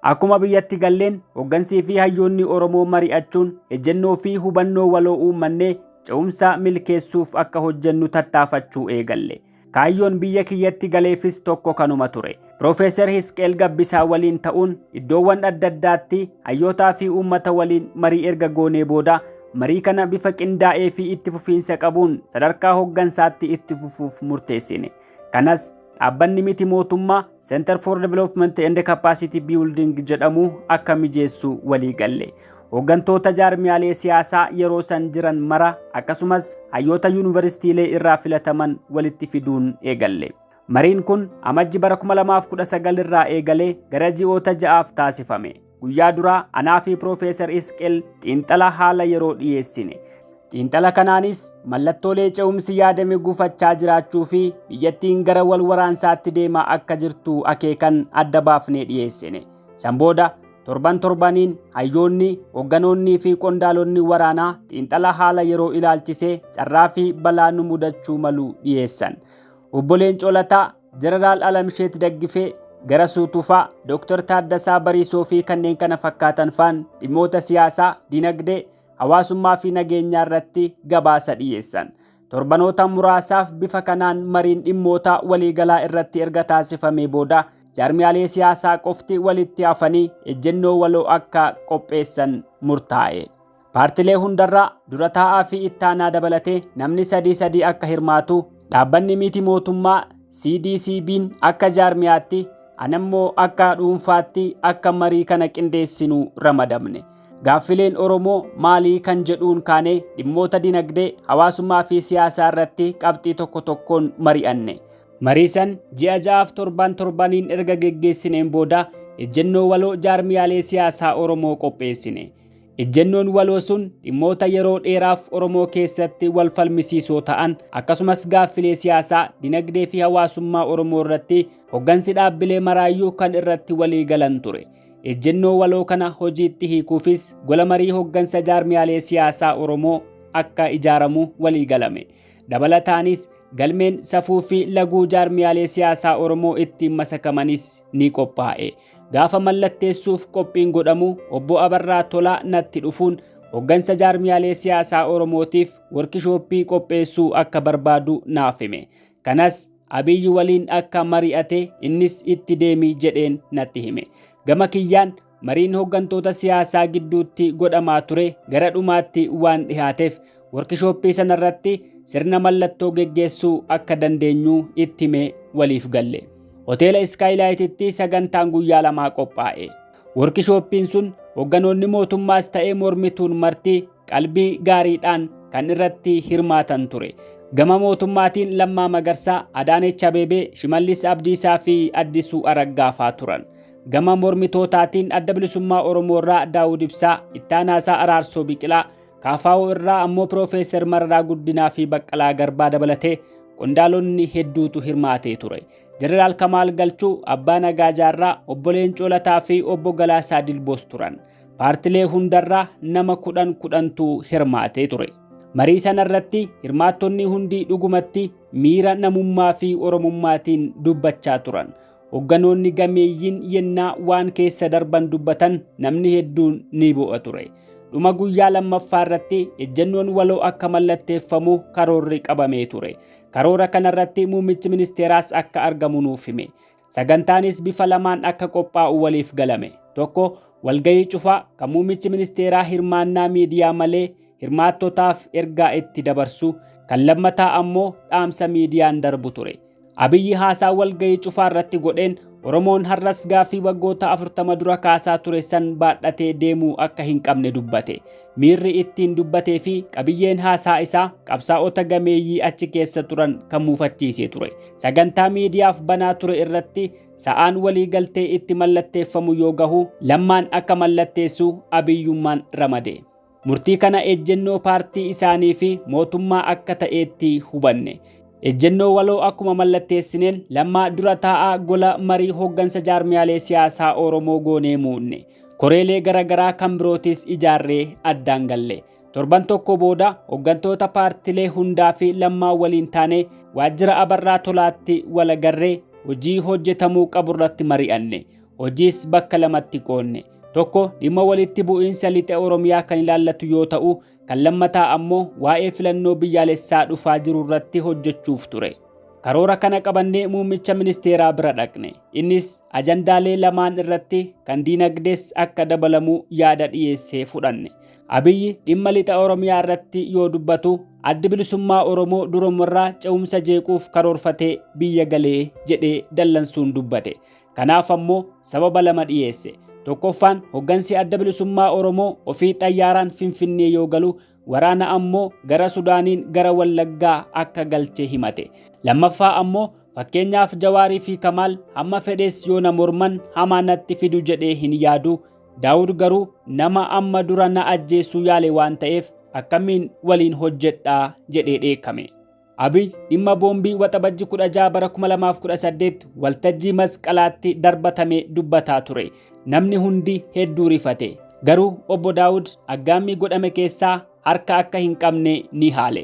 Akkuma biyyatti galleen hoggansii fi hayyoonni Oromoo mari'achuun ejjennoo fi hubannoo waloo uummannee ce'umsa milkeessuuf akka hojjennu tattaafachuu eegalle. Kaayyoon biyya kiyyatti galeefis tokko kanuma ture. Piroofeesar Hisqeel Gabbisaa waliin ta'uun iddoowwan adda addaatti hayyootaa fi uummata waliin marii erga goonee booda marii kana bifa qindaa'ee fi itti fufiinsa qabuun sadarkaa hoggansaatti itti fufuuf murteessine. Kanas Dhaabbanni miti mootummaa Center for Development and Capacity Building jedhamu akka mijeessu walii galle. Hooggantoota jaarmiyaalee siyaasaa yeroo san jiran mara akkasumas hayyoota yuunivarsiitiilee irraa filataman walitti fiduun eegalle. Mariin kun amajji bara 2019 irraa eegalee gara ji'oota ja'aaf taasifame. Guyyaa duraa anaa fi Piroofeesar Isqeel xiinxala haala yeroo dhiyeessine. Xiinxala kanaanis mallattoolee ce'umsi yaadame gufachaa jiraachuu fi biyyattiin gara wal waraansaatti deemaa akka jirtu akeekan adda baafnee dhiyeessine. San booda torban torbaniin hayyoonni, hogganoonnii fi qondaalonni waraanaa xiinxala haala yeroo ilaalchisee carraa fi balaa nu mudachuu malu dhiyeessan. Obbo Leencoo Lataa Jeneraal Alamsheet Daggifee, Garasuu Tufaa, Dooktar Taaddasaa Bariisoo fi kanneen kana fakkaatan faan dhimmoota siyaasaa, dinagdee, hawaasummaa fi nageenyaa irratti gabaasa dhiyeessan. Torbanoota muraasaaf bifa kanaan mariin dhimmoota waliigalaa irratti erga taasifamee booda jaarmiyaalee siyaasaa qofti walitti hafanii ejjennoo waloo akka qopheessan murtaa'e. Paartilee hundarraa dura taa'aa fi ittaanaa dabalatee namni sadii sadii akka hirmaatu dhaabbanni miti mootummaa CDCBn akka jaarmiyaatti anammoo akka dhuunfaatti akka marii kana qindeessinu ramadamne. Gaaffileen Oromoo maalii kan jedhuun kaanee dhimmoota dinagdee, hawaasummaa fi siyaasaa irratti qabxii tokko tokkoon mari'anne. Marii san ji'a ja'aaf torban torbaniin erga geggeessineen booda ejjennoo waloo jaarmiyaalee siyaasaa Oromoo qopheessine. Ejjennoon waloo sun dhimmoota yeroo dheeraaf Oromoo keessatti wal falmisiisoo ta'an akkasumas gaaffilee siyaasaa, dinagdee fi hawaasummaa Oromoo irratti hoggansi dhaabbilee maraayyuu kan irratti walii galan ture. Ejjennoo waloo kana hojiitti hiikuufis gola marii hoggansa jaarmiyaalee siyaasaa Oromoo akka ijaaramu walii galame. Dabalataanis galmeen safuu fi laguu jaarmiyaalee siyaasaa Oromoo ittiin masakamanis ni qophaa'e. Gaafa mallatteessuuf qophiin godhamu obbo Abarraa Tolaa natti dhufuun hoggansa jaarmiyaalee siyaasaa Oromootiif workishooppii qopheessuu akka barbaadu naaf hime. Kanas Abiy waliin akka mari'ate innis itti deemi jedheen natti hime. Gama kiyyaan mariin hoggantoota siyaasaa gidduutti godhamaa ture gara dhumaatti waan dhihaateef Workishooppii sana irratti sirna mallattoo geggeessuu akka dandeenyu itti himee waliif galle. Hoteela Iskaayilaayititti sagantaan guyyaa lamaa qophaa'e. Workishooppiin sun hogganoonni mootummaas ta'ee mormituun marti qalbii gaariidhaan kan irratti hirmaatan ture. Gama mootummaatiin Lammaa Magarsaa, Adaanech Abeebee, Shimallis Abdiisaa fi Addisuu Araggaa faa turan. Gama mormitootaatiin Adda Bilisummaa Oromoo irraa Daawud Ibsaa, Ittaanaasaa Araarsoo Biqilaa, Kaafaa'oo irraa ammoo Piroofeesar Mararaa Guddinaa fi Baqqalaa Garbaa dabalatee qondaalonni hedduutu hirmaatee ture. Jeneraal Kamaal Galchuu, Abbaa Nagaa Jaarraa, Obbo Leencoo Lataa fi Obbo Galaasaa Dilboos turan. Paartilee hundarraa nama kudhan kudhantu hirmaatee ture. Marii sana irratti hirmaattonni hundi dhugumatti miira namummaa fi Oromummaatiin dubbachaa turan. Hogganoonni gameeyyiin yennaa waan keessa darban dubbatan namni hedduun ni bu'a ture. Dhuma guyyaa lammaffaa irratti ejjennoon waloo akka mallatteeffamu karoorri qabamee ture. Karoora kanarratti muummichi ministeeraas akka argamu nuuf hime. Sagantaanis bifa lamaan akka qophaa'u waliif galame. Tokko walgahii cufaa kan muummichi ministeeraa hirmaannaa miidiyaa malee hirmaattotaaf ergaa itti dabarsu, kan lammataa ammoo dhaamsa miidiyaan darbu ture. Abiyyi haasaa walgahii cufaa irratti godheen Oromoon har'as gaaffii waggoota 40 dura kaasaa ture san baadhatee deemuu akka hin qabne dubbate. Miirri ittiin dubbatee fi qabiyyeen haasaa isaa qabsaa'ota gameeyyii achi keessa turan kan muufachiisee ture. Sagantaa miidiyaaf banaa ture irratti sa'aan walii galtee itti mallatteeffamu yoo gahu Lammaan akka mallatteessu Abiyyummaan ramade. Murtii kana ejjennoo paartii isaanii fi mootummaa akka ta'eetti hubanne. Ejjennoo waloo akkuma mallatteessineen Lammaa dura taa'aa gola marii hooggansa jaarmiyaalee siyaasaa Oromoo goonee muudne. Koreelee gara garaa kan birootis ijaarree addaan galle. Torban tokko booda hooggantoota paartilee hundaa fi Lammaa waliin taanee waajjira Abarraa Tolaatti wal agarree hojii hojjetamuu qaburratti mari'anne. Hojiis bakka lamatti qoodne. Tokko dhimma walitti bu'iinsa lixa Oromiyaa kan ilaallatu yoo ta'u, kan lammataa ammoo waa'ee filannoo biyyaalessaa dhufaa jiru irratti hojjechuuf ture. Karoora kana qabannee muummicha ministeeraa bira dhaqne. Innis ajandaalee lamaan irratti kan diinagdees akka dabalamu yaada dhiyeessee fudhanne. Abiyyi dhimma lixa Oromiyaa irratti yoo dubbatu addi bilisummaa Oromoo durumarraa ce'umsa jeequuf karoorfatee biyya galee jedhee dallansuun dubbate. Kanaaf ammoo sababa lama dhiyeesse. Tokkoffaan hoggansi adda bilisummaa Oromoo ofii xayyaaraan Finfinnee yoo galu waraana ammoo gara Sudaaniin gara Wallaggaa akka galche himate. Lammaffaa ammoo fakkeenyaaf Jawaarii fi Kamaal hamma fedhes yoo na morman hamaa natti fidu jedhee hin yaadu. Daawud garuu nama amma dura na ajjeessuu yaale waan ta'eef akkamiin waliin hojjedha jedhee dheekkame. Abiy dhimma boombii waxabajji 16 bara 2018 waltajjii masqalaatti darbatame dubbataa ture. Namni hundi hedduu rifate. Garuu obbo Daawud aggaammii godhame keessaa harka akka hin qabne ni haale.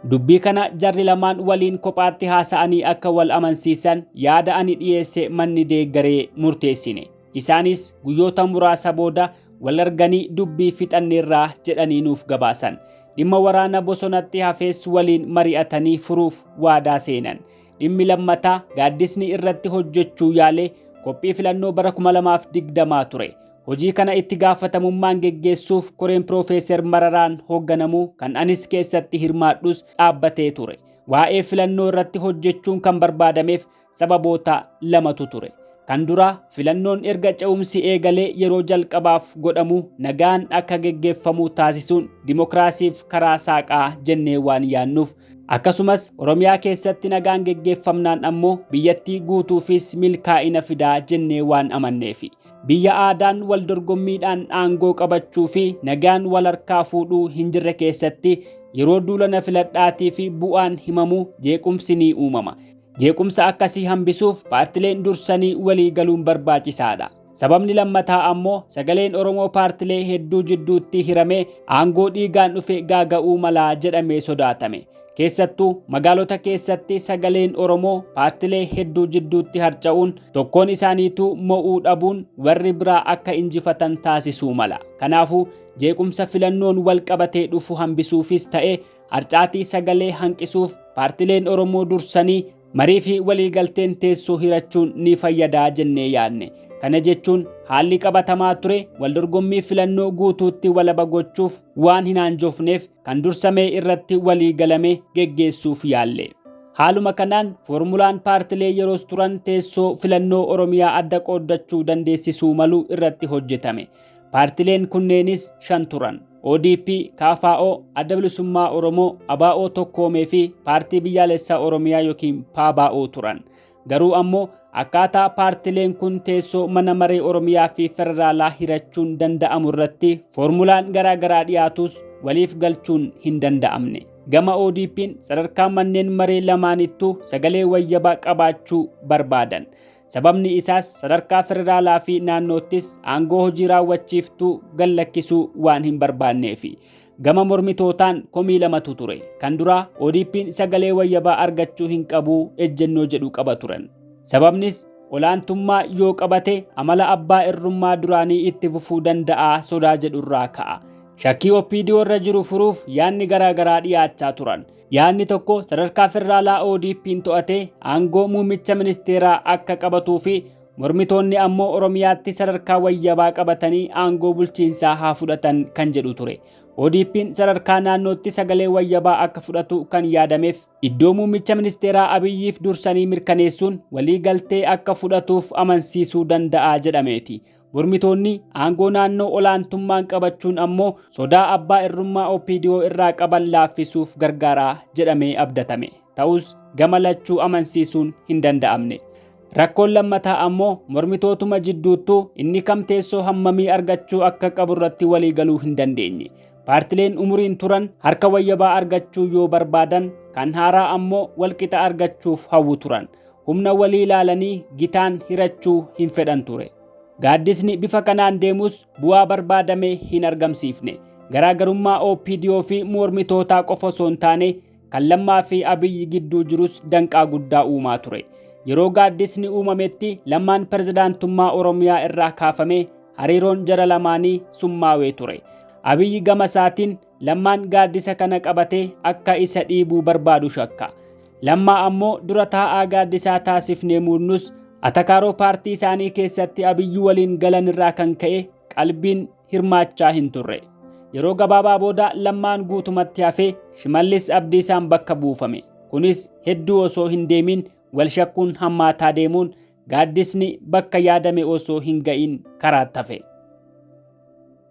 Dubbii kana jarri lamaan waliin kophaatti haasa'anii akka wal amansiisan yaada ani dhiyeesse manni deeggaree murteessine. Isaanis guyyoota muraasa booda wal arganii dubbii fixanneerraa jedhanii nuuf gabaasan. Dhimma waraana bosonatti hafees waliin mari'atanii furuuf waadaa seenan. Dhimmi lammataa gaaddisni irratti hojjechuu yaale qophii filannoo bara 2020 ture. Hojii kana itti gaafatamummaan geggeessuuf koreen Piroofeeser Mararaan hoogganamu kan anis keessatti hirmaadhus dhaabbatee ture. Waa'ee filannoo irratti hojjechuun kan barbaadameef Sababoota lamatu ture. Kan duraa filannoon erga ce'umsi eegalee yeroo jalqabaaf godhamu nagaan akka geggeeffamu taasisuun dimokiraasiif karaa saaqaa jennee waan yaannuuf akkasumas Oromiyaa keessatti nagaan geggeeffamnaan ammoo biyyattii guutuufis milkaa'ina fidaa jennee waan amanneefi. Biyya aadaan wal dorgommiidhaan aangoo qabachuu fi nagaan wal harkaa fuudhuu hin jirre keessatti yeroo duula na filadhaatii fi bu'aan himamu jeequmsi ni uumama. Jeequmsa akkasii hambisuuf paartileen dursanii walii galuun barbaachisaadha. Sababni lammataa ammoo sagaleen Oromoo paartilee hedduu jidduutti hiramee aangoo dhiigaan dhufe gaaga'uu mala jedhamee sodaatame. Keessattuu magaalota keessatti sagaleen Oromoo paartilee hedduu jidduutti harca'uun tokkoon isaaniituu mo'uu dhabuun warri biraa akka injifatan taasisuu mala. Kanaafuu jeequmsa filannoon wal qabatee dhufu hambisuufis ta'e Harcaatii sagalee hanqisuuf paartileen Oromoo dursanii marii fi waliigalteen teessoo hirachuun ni fayyadaa jennee yaadne. Kana jechuun haalli qabatamaa ture waldorgommii filannoo guutuutti walaba gochuuf waan hin aanjofneef kan dursamee irratti walii galame geggeessuuf yaalle. Haaluma kanaan foormulaan paartilee yeroos turan teessoo filannoo Oromiyaa adda qooddachuu dandeessisuu malu irratti hojjetame. Paartileen kunneenis shan turan. ODP, KFO, Adda Bilisummaa Oromoo, ABO Tokkoomee fi Paartii Biyyaalessaa Oromiyaa yookiin PABO turan. Garuu ammoo akkaataa paartileen kun teessoo mana maree Oromiyaa fi Federaalaa hirachuun danda'amu irratti foormulaan garaagaraa dhiyaatus waliif galchuun hin danda'amne. Gama ODP'n sadarkaa manneen maree lamaanittuu sagalee wayyabaa qabaachuu barbaadan. Sababni isaas sadarkaa federaalaa fi naannoottis aangoo hojii raawwachiiftuu gad lakkisuu waan hin barbaanneefi. Gama mormitootaan komii lamatu ture. Kan duraa ODP'n sagalee wayyabaa argachuu hin qabu ejjennoo jedhu qaba turan. Sababnis olaantummaa yoo qabate amala abbaa irrummaa duraanii itti fufuu danda'a sodaa jedhurraa ka'a. Shakkii OPDO irra jiru furuuf yaadni garaa garaa dhiyaachaa turan. Yaadni tokko sadarkaa federaalaa ODP'n to'atee aangoo muummicha ministeeraa akka qabatuu fi mormitoonni ammoo Oromiyaatti sadarkaa wayyabaa qabatanii aangoo bulchiinsaa haa fudhatan kan jedhu ture. ODP'n sadarkaa naannootti sagalee wayyabaa akka fudhatu kan yaadameef iddoo muummicha ministeeraa Abiyyiif dursanii mirkaneessuun walii galtee akka fudhatuuf amansiisuu danda'a jedhameeti. Mormitoonni aangoo naannoo olaantummaan qabachuun ammoo sodaa abbaa irrummaa OPDO irraa qaban laaffisuuf gargaara jedhamee abdatame. Ta'us gama lachuu amansiisuun hin danda'amne. Rakkoon lammataa ammoo mormitootuma jidduuttuu inni kam teessoo hammamii argachuu akka qabu irratti walii galuu hin dandeenye. Paartileen umuriin turan harka wayyabaa argachuu yoo barbaadan kan haaraa ammoo walqixa argachuuf hawwu turan. humna walii ilaalanii gitaan hirachuu hin fedhan ture. Gaaddisni bifa kanaan deemus bu'aa barbaadame hin argamsiifne. Garaagarummaa OPDO fi mormitootaa qofa osoo hin taane kan Lammaa fi Abiyyi gidduu jirus danqaa guddaa uumaa ture. Yeroo gaaddisni uumametti Lammaan pirezidaantummaa Oromiyaa irraa kaafame hariiroon jara lamaanii summaawee ture. Abiyyi gama isaatiin Lammaan gaaddisa kana qabatee akka isa dhiibuu barbaadu shakka. Lammaa ammoo dura taa'aa gaaddisaa taasifnee muudnus atakaaroo paartii isaanii keessatti abiyyuu waliin galan irraa kan ka'e qalbiin hirmaachaa hin turre. Yeroo gabaabaa booda lammaan guutumatti hafee Shimallis Abdiisaan bakka buufame. Kunis hedduu osoo hin deemiin wal shakkuun hammaataa deemuun gaaddisni bakka yaadame osoo hin ga'iin karaatti hafe.